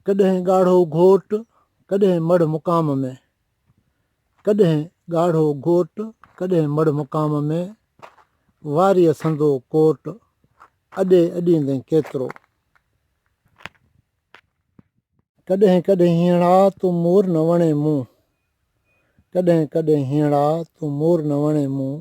ڪڏهن ڳاڙهو گهوٽ ڪڏهن مڙهه مقام ۾. ڪڏهن ڳاڙهو گهوٽ ڪڏهن مڙهه مقام ۾. واريء سندو ڪوٽ اڏي اڏيندين ڪيترو. ڪڏهن ڪڏهن هينئڙا تون مور نه وڻين مون. ڪڏهن ڪڏهن هينئڙا تون مور نه وڻين مون.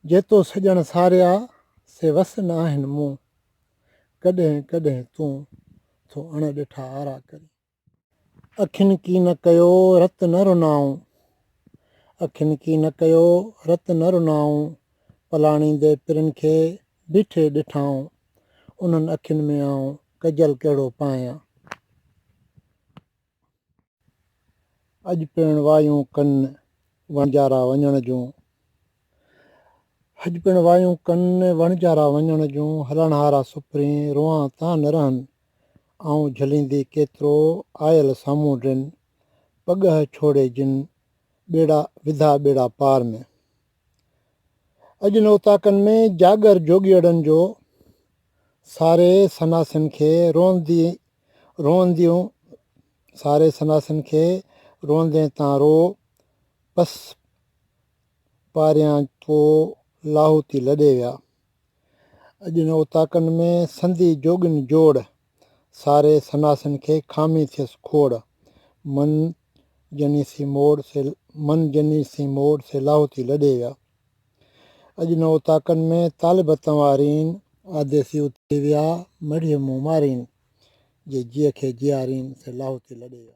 جيتو سڄڻ ساريا سي وس نه آهن مون. ڪڏهن ڪڏهن تون ٿو اڻ ڏٺا آرا ڪرين. اکين ڪي نه ڪيو رت نه رنائون اکين ڪي نه ڪيو رت نه رنائون پلاڻي دي پرين کي بيٺي ڏٺائون انهن اکين ۾ آئون ڪجل ڪهڙو پايان. اڄ پڻ وايون ڪن وڻجارا وڃڻ جون اڄ پڻ وايون ڪن وڻجارا وڃڻ جون هلڻهارا سپرين روئان تان نه رهن آئون جهليندي ڪيترو آيل سامهون ڊن پڳهه ڇوڙي جن ٻيڙا وڌا ٻيڙا پار ۾. اڄ ان اوطاقن ۾ جاڳر جوڳيئڙن جو ساري سناسين کي روئندي روئنديون ساري سناسين کي روئندين تان رو پس پاريان پو لاهوتي لڏي ويا. اڄ ان اوطاقن ۾ سندي جوڳين جوڙ، ساري سناسين کي کامي ٿيس کوڙ، من جني سين موڙ سي من جني سين موڙ سي لاهوتي لڏي ويا. اڄ ان اوطاقن ۾ طالب اتان وارين. آڌي سي اتي ويا مڙهي مون مارين، جي جيء کي جيارين سي لاهوتي لڏي ويا.